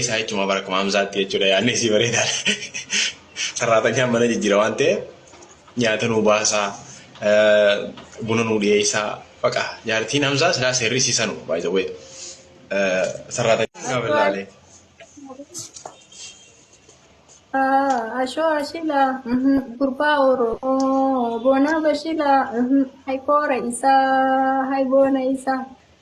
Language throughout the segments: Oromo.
Isaa jechuun bara kuma hamsaatti jechuudha yaadni isii bareedaadha. Sarraatanyaan mana jijjiira waan ta'eef nyaata nuu baasaa buna nuu dhiyeessaa baqa jaartiin hamsaa silaa seerri isii sanu baay'ee sarraatanyaan bilaalee. Ashoo ashila gurbaa oromoo boonaa bashila hay koora isaa hay boona isaa.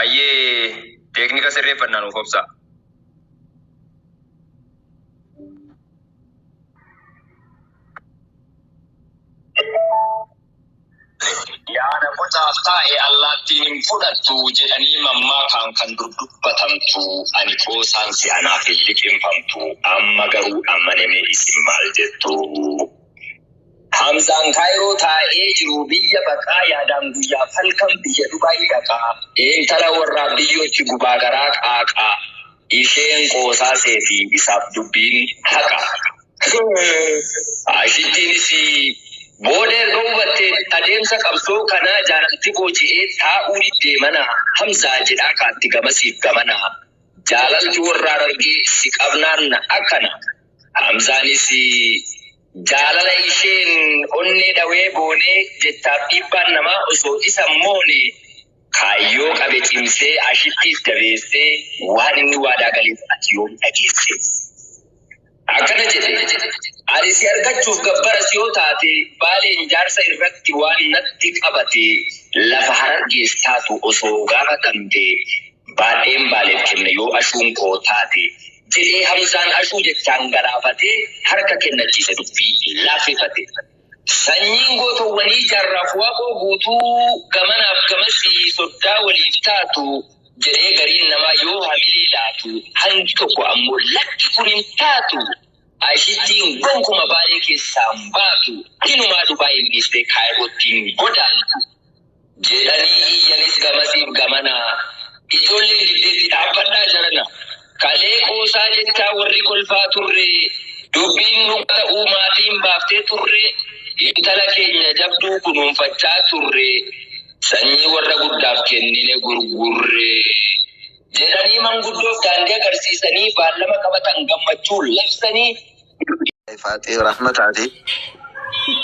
Ayyee teeknika sirreeffannaa nuuf obsaa. Yaada bocaaf taa'e allaattiin hin fudhattu jedhanii mammaakaan kan dur dubbatamtu ani qoosaan si'anaaf hin liqimfamtu amma garuu ammane mee isin maal jettu? Hamzaan Kaayiroo taa'ee jiru biyya baqaa yaadaan guyyaaf halkan biyya Dubaay dhaqaa intala warraa biyyootti gubaa garaa qaaqaa isheen qoosaa seetii isaaf dubbiin haqa. Ashittiinis booda erga hubattee adeemsa qabsoo kanaa jaalalti booji'ee taa'uu diddee mana Hamzaa jedhaa kaatti gamasiif gamana jaalalti warraa rargee si qabnaan akkana. Hamzaanis jaalala isheen onnee dhawee boonee jechaaf dhiibbaan namaa osoo isa hin moone kaayyoo qabe cimsee ashittiif jabeessee waan inni waadaa galeef ati yoom dhageesse? Akkana jedhe, Ani si argachuuf gabbaras yoo taate Baaleen jaarsa irratti waan natti qabate lafa Harargees taatu osoo gaafatamte baadheen Baaleef kenna yoo ashuun koo taate jedhee Hamzaan Ashuu jechaan galaafatee harka kennachiise dubbii laaffifate. Sanyiin gootowwanii Jaarraaf Waaqoo guutuu gamanaaf gamasii soddaa waliif taatu jedhee gariin namaa yoo hamilee laatu hangi tokko ammoo lakki kun hin taatu Aishittiin gonkuma Baalee keessaa hin baatu hinumaa Dubaay hin dhiistee Kaayirootti hin godaantu jedhanii iyyanis gamasiif gamana. Ijoolleen diddeetti dhaabbadhaa jarana. Kalee qoosaa jettaa warri kolfaa turre dubbiin dhugaa ta'uu maatiin baaftee turre intala keenya jabduu kunuunfachaa turre sanyii warra guddaaf kennine gurgurre jedhanii manguddoof daandii agarsiisanii baallama qabatan gammachuun labsanii Faaxee rahma taate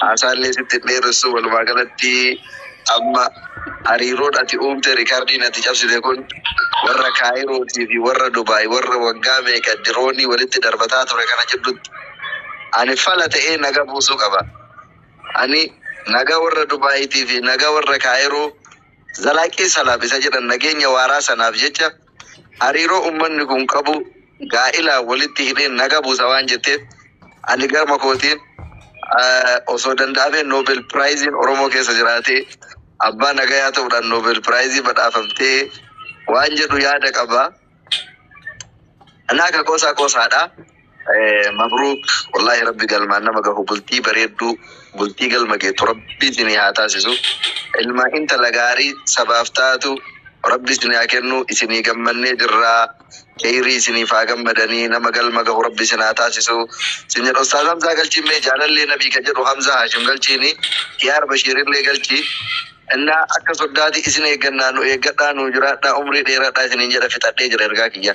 haasaallee sitti hin dheeressu walumaa galatti amma hariiroon ati uumte rikardiin ati cabsite kun warra kaayirootii fi warra dubaay warra waggaa meeqa diroonii walitti darbataa ture kana jiddutti ani fala ta'ee naga buusuu qaba ani naga warra dubaayitii fi naga warra kaayiroo zalaaqii salaam isa jedhan nageenya waaraa sanaaf jecha hariiroo ummanni kun qabu gaa'ilaan walitti hidhee naga buusa waan jetteef ani garma kootiin osoo danda'amee Noobel Piraayiziin Oromoo keessa jiraatee abbaa nagayaa ta'uudhaan Noobel Piraayizii badhaafamtee waan jedhu yaada qaba. Anaa ka qoosaa qoosaadha. Mabruuk wallahi rabbi galmaan nama gahu bultii bareedduu bultii galma geettu rabbi isinii haa taasisu ilma intala gaarii sabaaf taatu rabbi isinii haa kennu isinii gammannee jirraa keyrii isiniif haa gammadanii nama galma gahu rabbi isin haa taasisu sin jedha ustaaz hamzaa galchiin mee jaalallee nabii ka jedhu hamzaa haashim galchiini kiyaar bashiirillee galchi inna akka soddaati isin eeggannaa nu eeggadhaa nuu jiraadhaa umrii dheeradhaa isiniin jedha fixadhee jira ergaa kiyya.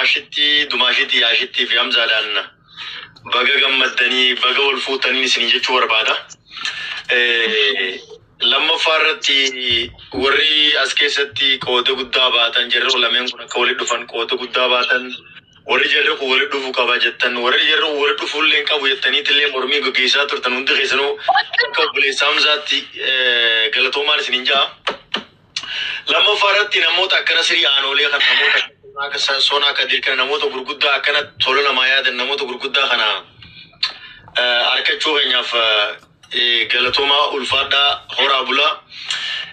Ashitti dumaashiti yaashitti fi hamzaadhaan baga gammaddanii baga wal fuutaniin isinii jechuu barbaada. Lammaffaa irratti warri as keessatti qooda guddaa baatan jarri lameen kun akka walitti dhufan qooda guddaa baatan warri jarri kun walitti dhufu qaba jettan warri jarri kun walitti dhufuu illee hin qabu jettaniitti illee mormii gaggeessaa turtan hundi keessanuu akka obboleessa hamzaatti galatoomaan isiniin ja'a. Lammaffaa irratti namoota akkana sirii aanoolee kana namoota akka Sa- sonaa kadir kana namoota gurguddaa akkana tola namaa yaadan namoota gurguddaa kana eh, harkachuu keenyaaf eh, eh, galatoomaa ulfaadhaa horaa bulaa.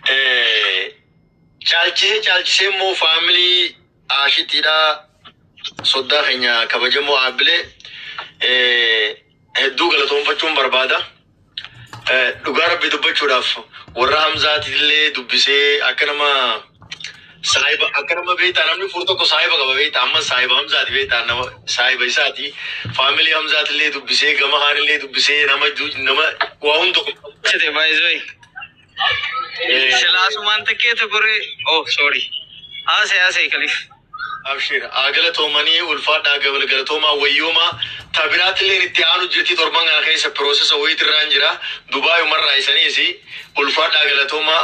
Eh, Caalchisee caalchisee immoo faamilii aashitiidhaa soddaa keenya kabajamoo aabbilee. Eh, hedduu galatoonfachuun barbaada. Dhugaa rabbi dubbachuudhaaf warra Hamzaatillee dubbisee akka nama saahiba akka nama beektaa namni fuur tokko saahiba qaba beektaa amma saahiba Hamzaati beektaa nama saahiba isaati faamilii Hamzaatillee dubbisee gama haanillee dubbisee nama nama waa hunda. Baay'ee Silaa sumaan takkeeta goree. Oh sorry. Haasee haasee kalif. Abshiir haa galatoomanii ulfaadhaa gabal galatoomaa wayyoomaa ta biraatilleen itti aanu jirti torban kana keessa piroosesa wayiit irraan jira dubaayuma irraa isaniis ulfaadhaa galatoomaa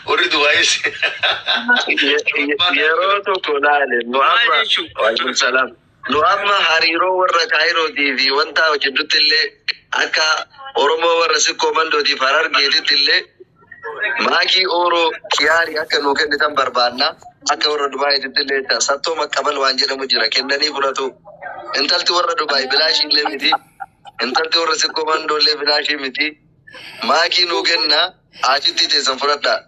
warri dubaayis Ye- ye- yeroo tokko laale Maal muhammad jechuu? waalaikum salaam Nu amma hariiroo warra Kaayirootii fi Wantaa jidduutti illee akka Oromoo warra Sikkoo Mandootii fi Harargeetitti illee Maakii Ooroo Kiyaarii akka nuu kennitan barbaanna. Akka warra Dubaayiititti illee jecha Sattoo Maqqabal waan jedhamu jira. Kennanii fudhatu. Intalti warra Dubaayi bilaashii illee miti. Intalti warra Sikkoo Mandoo illee bilaashii miti. Maakii nuu kennaa aachittii teessan fudhadhaa.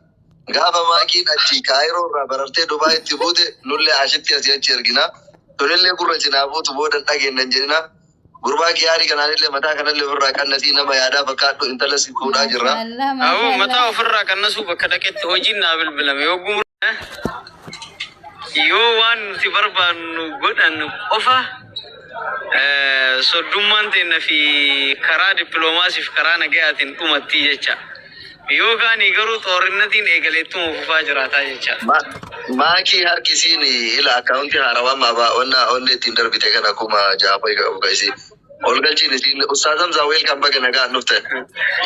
Gaafa Maakiin achii Kaayiroo irraa barartee Dubaayitti buute nullee ashitti asii achi ergina. Tunillee gurra isin haa buutu booda hin dhageenna hin jedhina. Gurbaa Kiyaari kanaanillee mataa kanallee ofirraa qannasii nama yaadaa fakkaadhu intala si fuudhaa jirra. Awuu mataa ofirraa qannasuu bakka dhaqetti hojiin naa bilbilame yoo gumur yoo waan nuti barbaannu godhan qofa soddummaan teenna fi karaa dippiloomaasiif karaa nagayaatiin dhumatti jecha. Yoo kaanii garuu xoorinnatiin eegale ittuma fufaa jiraataa jechaa. Ma, maakii harki isiin ila akkaawunti haarawaa maabaa onna onne ittiin darbite kana kuma ja'a fa'i ka- ka isiin ol galchiin isiin ustaaz hamzaa weelkam baga nagaan dhufte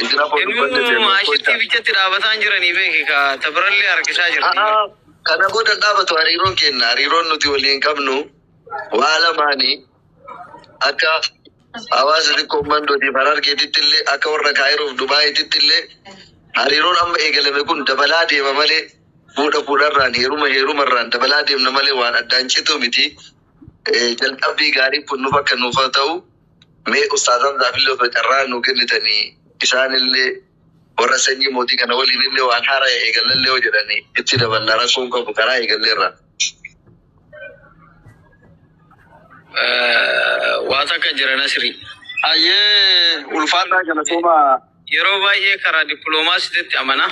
isin afoo Inuu dubbanne seenu kocha maashittii bichatti dhaabataan jiranii beeki ka ta birallee harkisaa jirti. A'aa, kana booda hin dhaabatu hariiroon keenna hariiroon nuti waliin qabnu waa lamaani akka hawaasa xiqqoo mandootiif harargeetitti illee akka warra kaayiroof dubaayiititti illee hariiroon amma eegalame kun dabalaa deema malee fuudha fuudharraan heeruma heerumarraan dabalaa deemna malee waan addaan cituu miti. Jalqabbii gaarii kun nuuf akka nuuf ta'u mee ustaazaan zaafillee osoo carraa nu kennitanii isaanillee Warra sanyii mootii kana waliin illee waan haaraya eegalla illee yoo jedhani itti daballa rakkoo hin qabu karaa eegalleerra. Waa takka jira Nasrii. Hayyee ulfaadhaa galatoomaa. Yeroo baay'ee karaa dippiloomaasiititti amana.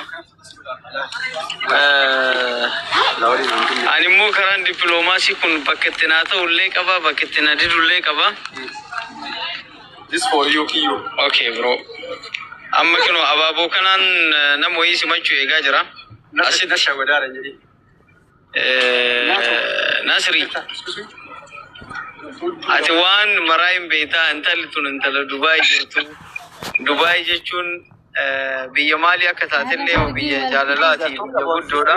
Ani immoo karaan dippiloomaasii kun bakka itti naa ta'u illee qaba, bakka itti na didu illee qaba. This for you, Kiyo. Okay, bro. Amma kino abaaboo kanaan eh, nama wayii simachuu eegaa jira. Asitti Nasha wadaara hin jedhin. eh, Nasri, ati waan maraa hin beektaa intalli tun intala Dubaay jirtu. Dubaay jechuun eh, biyya maalii akka taatellee yoo biyya jaalalaati biyya guddoodha.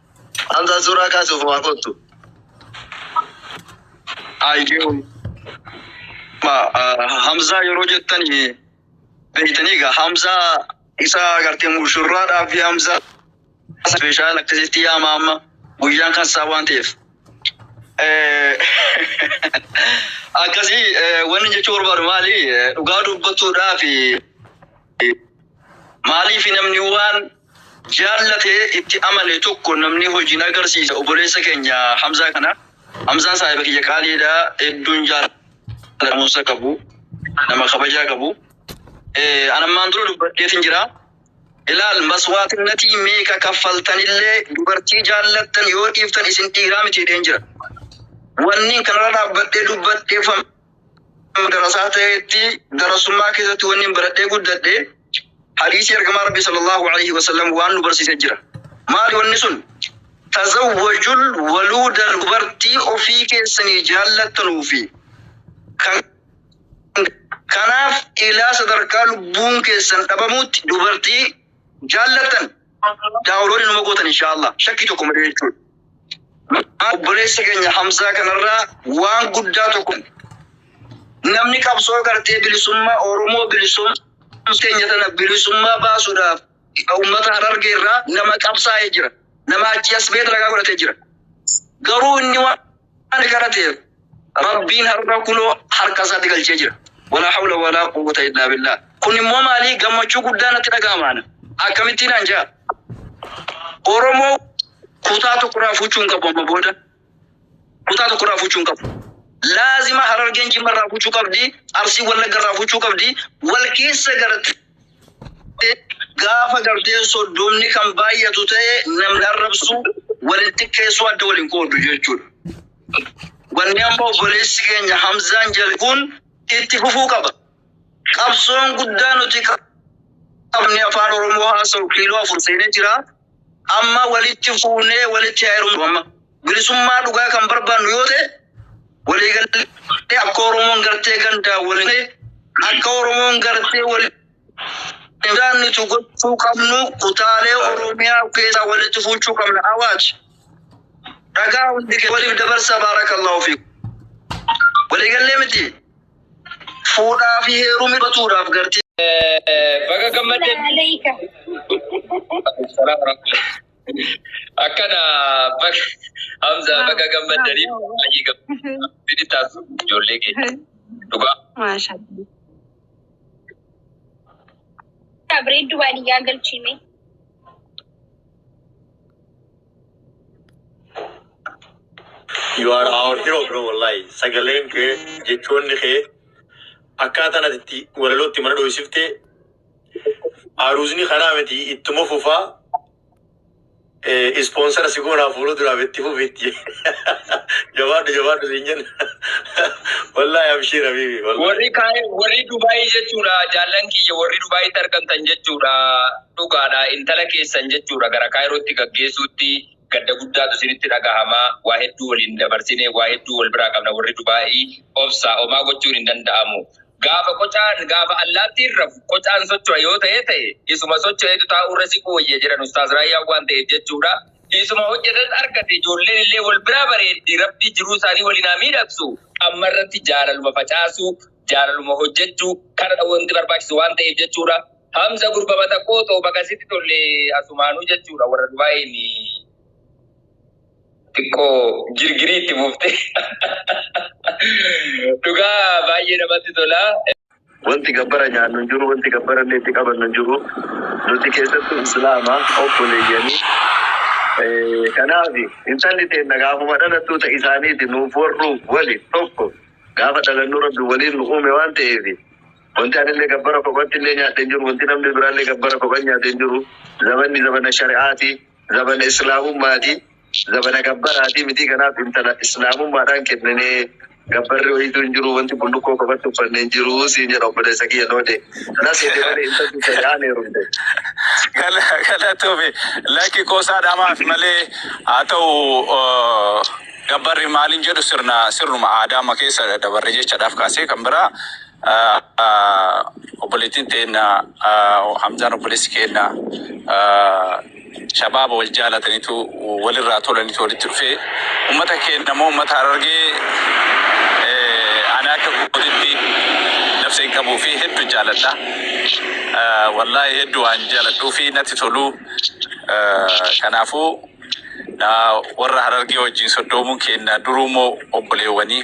Hamzaa suuraa kaasuuf waa kottu. Ayyuu. Ma, ah, Hamzaa yeroo jettan beeytanii egaa Hamzaa isa agartee mushurraadhaa fi Hamzaa ispeeshaal akkasitti yaama amma guyyaan kan isaa waan ta'eef. Eh, Akkasii eh, wanni jechuu barbaadu maali? Eh, Dhugaa dubbachuudhaa fi Maaliif namni waan jaallate itti amane tokko namni hojiin agarsiisa oboleessa keenya Hamzaa kana Hamzaan saahiba kiyya qaaliidha hedduun jaallatamuunsa qabu nama kabajaa qabu anammaan dura dubbadheetin jira ilaal maswaatinatii meeqa kaffaltanillee dubartii jaallattan yoo dhiiftan isin dhiiraa miti jedheen jira wanni kanarra dhaabbadhee dubbadheeffam darasaa ta'etti darasummaa keessatti wanni baradhee guddadhe hadiisii ergamaa rabbii sallallahu alaihi wasallam waan nu barsiise jira. Maali wanni sun? Tazawwajul waluuda dubartii ofii keessanii jaallattanuu fi kan kanaaf ilaa sadarkaa lubbuun keessan dhabamuutti dubartii jaallattan daawuloodii numa gootan inshaallah shakkii tokko malee jechuudha. Obboleessa keenya Hamzaa kanarraa waan guddaa tokko namni qabsoo gartee bilisummaa Oromoo bilisummaa keenya tana bilisummaa baasuudhaaf uummata harargee irraa nama qabsaa'ee jira. Nama achi as beet ragaa godhatee jira. Garuu inni waan Ani gara ta'e Rabbiin har'a kunoo harka isaatti galchee jira. Walaa hawla walaa quwwata illaa billaah. Kun immoo maalii gammachuu guddaa natti dhaga'ama ana. Akkamittiin an ja'a? Oromoo kutaa tokkorraa fuchuu hin qabu amma booda. Kutaa tokkorraa fuchuu hin qabu. Laazima harargeen jimmarraa fuchuu qabdi, arsiin wallaggarraa fuchuu qabdi, wal keessa garatti. Gaafa garteen soddomni kan baay'atu ta'e namni arrabsu waliin xiqqeessuu adda waliin qooddu jechuudha. Wanni amma obboleessi keenya Hamzaan jedhe kun itti fufuu qaba. Qabsoon guddaa nuti qabne afaan Oromoo haasa'u kiiloo afur seenee jira. Amma walitti fuunee walitti haa heerumnu amma. Bilisummaa dhugaa kan barbaannu yoo ta'e waliigallee akka Oromoon gartee gandaa waliin akka Oromoon gartee waliin daannitu gochuu qabnu kutaalee Oromiyaa keessaa walitti fuuchuu qabna. Awaaj! Dhagaa hundi kee waliif dabarsa baarakallahu fiikum. Waliigallee miti. Fuudhaa fi heerumi batuudhaaf garti. Baga gammadde. Aleeyka. Akkana baga Hamza baga gammaddanii baay'ee gammadda. Bini taatu ijoollee keenya. Dhugaa. Maasha. Bareeddu baadiyyaa galchiime. You are our hero bro wallahi. Sagaleen kee jechoonni kee akkaataan ati itti walalootti mana dho'isifte aruuzni kanaa miti ittuma fufaa ispoonsara si goonaa fuula duraaf itti fufitti. Jabaadhu jabaadhu siin jenna. Wallahi abshiir habiibi. Wallahi. Warri kaa'e warri Dubaayii jechuudha jaallan kiyya warri Dubaayiitti argamtan jechuudha. Dhugaadha, intala keessan jechuudha gara Kaayirootti gaggeessuutti gadda guddaatu isinitti dhagahama. Waa hedduu waliin dabarsine, waa hedduu wal biraa qabna warri Dubaa'ii. Obsaa, homaa gochuun hin danda'amu. Gaafa qocaan, gaafa allaattiin rafu, qocaan socho'a yoo ta'ee ta'e, isuma socho'etu taa'uurra siquu wayya jedhan Ustaaz Raayyaan waan ta'eef jechuudha. Isuma hojjetes argate, ijoolleen illee wal biraa bareeddi, Rabbi jiruu isaanii waliin haa miidhagsu. Amma irratti jaalaluma facaasuu, jaalaluma hojjechuu, kanadha wanti barbaachisu waan ta'eef jechuudha. Hamza gurba batakkoo too baga sitti tolle asumaanuu jechuudha warra Dubaayiin xiqqoo girgirii itti buufte. Dhugaa baay'ee namatti tola. Wanti gabbara nyaannu hin jiru, wanti gabbara illee itti qabannu hin jiru. Nuti keessattuu Islaama obboleeyyanii. Eh, Kanaaf intalli teenna gaafuma dhalattuu ta isaaniiti nuuf warruuf wali tokko gaafa dhalannu rabbi waliin nu uume waan ta'eef Wanti anillee gabbara kophattillee nyaadhe hin jiru, wanti namni biraallee gabbara kophan nyaate hin jiru. Zabanni zabana shari'aati, zabana Islaamummaati, zabana gabbaraatii mitii kanaaf intala Islaamummaadhaan kenninee gabbarri wayiituu hin jiru, wanti bullukkoo kophatti uffanne hin jiru siin jedha obboleessa kiyya Noode. Na seete malee intalti shari'aan heerumte. Galatoomi. Lakki qoosaa dhamaaf malee haa ta'u gabbarri maalin jedhu sirna sirnuma aadaama keessa dabarre jechadhaaf kaasee kan biraa Obboleettiin teenna Hamzaan obboleessi keenna shabaaba wal jaalatanitu walirraa tolanitu walitti dhufee ummata keenna moo ummata Harargee ani akka kootitti nafsa hin qabuu fi heddu jaaladha. Wallaahi heddu waan jaaladhuu fi natti tolu. Kanaafuu warra Harargee wajjin soddoomuun keenna duruu moo obboleewwanii.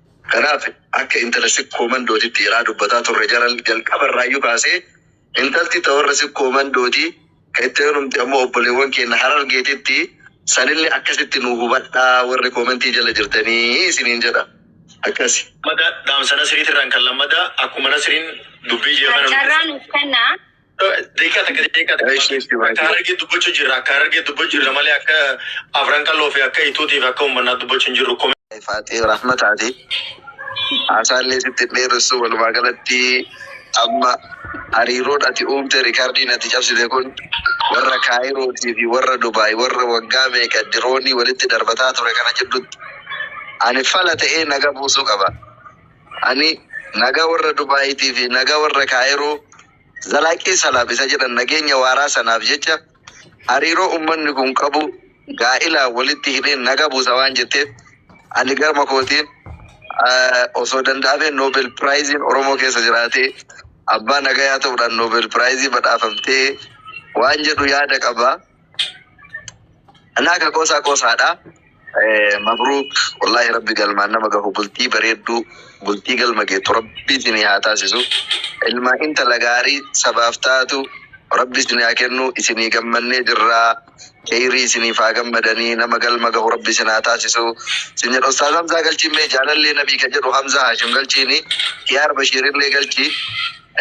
Kanaaf akka intala sikkoo mandootitti iraa dubbataa turre jaral jalqaba irraayyu kaasee intalti ta warra sikkoo mandooti ka itti heerumte ammoo obboleewwan keenna harargeetitti sanille akkasitti nuu hubadhaa warri komentii jala jirtanii isiniin jedha akkasi. Lammata dhaamsa nasriitirraan kan lammata akkuma nasriin dubbii jeefana nutti. Carraa nuuf kennaa. Deekaa takka deekaa takka. Ishee ishee Akka baay'ee. harargee dubbachuu jirra akka harargee dubbachuu jirra malee akka afran qalloo fi akka ituutiif akka ummannaa dubbachuu hin jirru. Komee Faaxee Rahmataati. Haasaallee sitti hin dheeressu walumaa galatti amma hariiroon ati uumte rikardiin ati cabsite kun warra Kaayirootii fi warra Dubaay warra waggaa meeqa diroonii walitti darbataa ture kana jidduutti ani fala ta'ee naga buusuu qaba. Ani naga warra Dubaayitii fi naga warra Kaayiroo Zalaaqii Salaam isa jedhan nageenya waaraa sanaaf jecha hariiroo ummanni kun qabu gaa'ilaan walitti hidheen naga buusa waan jetteef ani garma kootiin osoo danda'amee Noobel Piraayiziin Oromoo keessa jiraatee abbaa nagayaa ta'uudhaan Noobel Piraayizii badhaafamtee waan jedhu yaada qaba. Anaa ka qoosaa qoosaadha. Eh, Mabruuk wallahi rabbi galmaan nama gahu bultii bareedduu bultii galma geettu rabbi isinii haa taasisu. Ilma intala gaarii sabaaf taatu rabbi isinii haa kennu isinii gammannee jirraa. Kheyrii isiniif haa gammadanii nama galma gahu rabbi isin haa taasisu. Isin jedha Ustaaz Hamzaa galchiin mee jaalallee nabii ka jedhu Hamzaa Haashim galchiini. Kiyaar Bashiirillee galchii.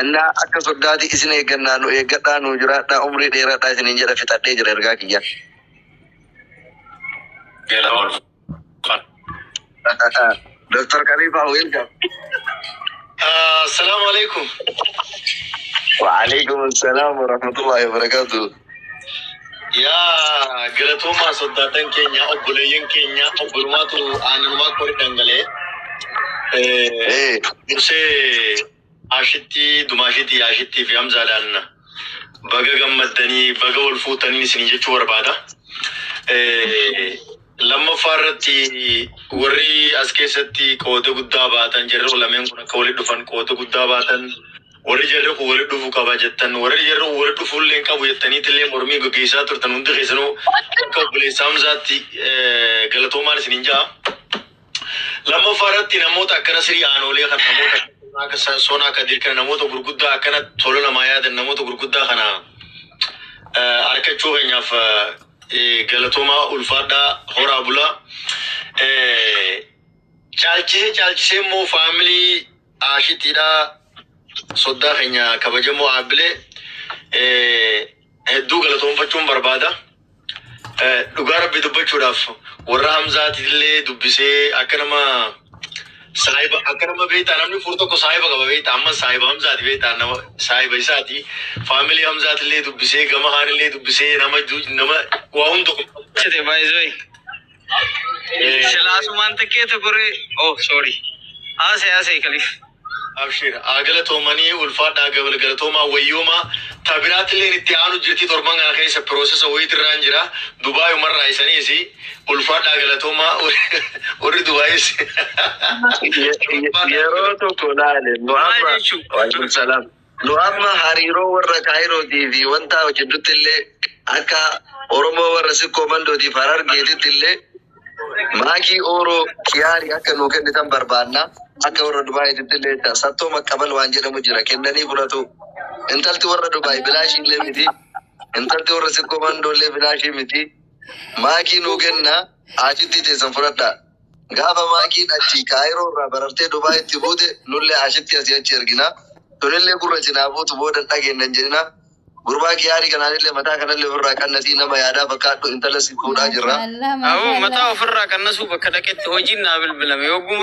Illaa akka soddaati isin eeggannaa nu eeggadhaa nuu jiraadhaa umrii dheeradhaa isiniin jedha fixadhee jira ergaa kiyya. Doktar Kaliifaa welcome. Assalamu alaikum. Wa'aleekum salaam warahmatullahi wabarakatuh. Yaa galatoomaa soddaatan keenya obboleeyyan keenya obborumaatu aanumaa kori dhangalee. Eh, Dursee Ashitti dumaashiti yaashitti fi hamzaadhaan baga gammaddanii baga wal fuutanii isinii jechuu barbaada. Lammaffaa irratti warri as keessatti qooda guddaa baatan jarri lameen kun akka walitti dhufan qooda guddaa baatan warri jarri kun walitti dhufuu qaba jettan warri jarri kun walitti dhufuu illee hin qabu jettaniitti illee mormii gaggeessaa turtan hundi keessanuu akka obboleessa hamzaatti galatoomaan isiniin ja'a. Lammaffaa irratti namoota akkana sirii aanoolee kana namoota akka Sa- sonaa kadir kana namoota gurguddaa akkana tola namaa yaadan namoota gurguddaa kana eh, arkachuu keenyaaf eh, eh, galatoomaa ulfaadhaa horaa bulaa. Eh, Caalchisee caalchisee immoo faamilii aashitiidhaa soddaa keenya kabajamoo aabbilee. Eh, hedduu galatoonfachuun barbaada. Eh, Dhugaa rabbi dubbachuudhaaf warra Hamzaatillee dubbisee akka nama saahiba akka nama beektaa namni fuur tokko saahiba qaba beektaa amma saahiba Hamzaati beektaa nama saahiba isaati faamilii Hamzaatillee dubbisee gama haanillee dubbisee nama ju- nama waa hunda Chete baay'ee Eh, Silaasumaan xiqqeetu goree. Oh sorry. Haasee haasee kaliif. Abshiir haa galatoomanii ulfaadhaa gabal galatoomaa wayyoomaa ta biraatilleen itti aanu jirtii torban kana keessa piroosesa wayiitirraan jira dubaayumarraa isaniisi ulfaadhaa galatoomaa warri dubaayis Ye- ye- yeroo tokko laale Muhammad Waalaikum salaam. Nu amma hariiroo warra Kaayirootii fi Wantaa jiddutti illee akka Oromoo warra Sikkoo Mandoo tiif Harargeetitti illee Maakii Ooroo Kiyaarii akka nuu kennitan barbaanna. Akka warra Dubaayiititti illee jecha Sattoo Maqqabal waan jedhamu jira kennanii fudhatu. Intalti warra Dubaayi bilaashii illee miti. Intalti warra Sikkoo Mandoo illee bilaashii miti. Maakii nuu kennaa aachittii teessan fudhadhaa. Gaafa Maakiin achii Kaayiroo irraa barartee Dubaayitti buute nullee ashitti asii achi ergina. Tunillee gurra isin haa buutu booda hin dhageenna hin jedhina. Gurbaa Kiyaarii kanaanillee mataa kanallee ofirraa qannasii nama yaadaa fakkaadhu intala si fuudhaa jirra. Maashaallah Awuu mataa maashaallah. ofirraa qannasuu bakka dhaqetti hojiin naa bilbilame yoo gumru.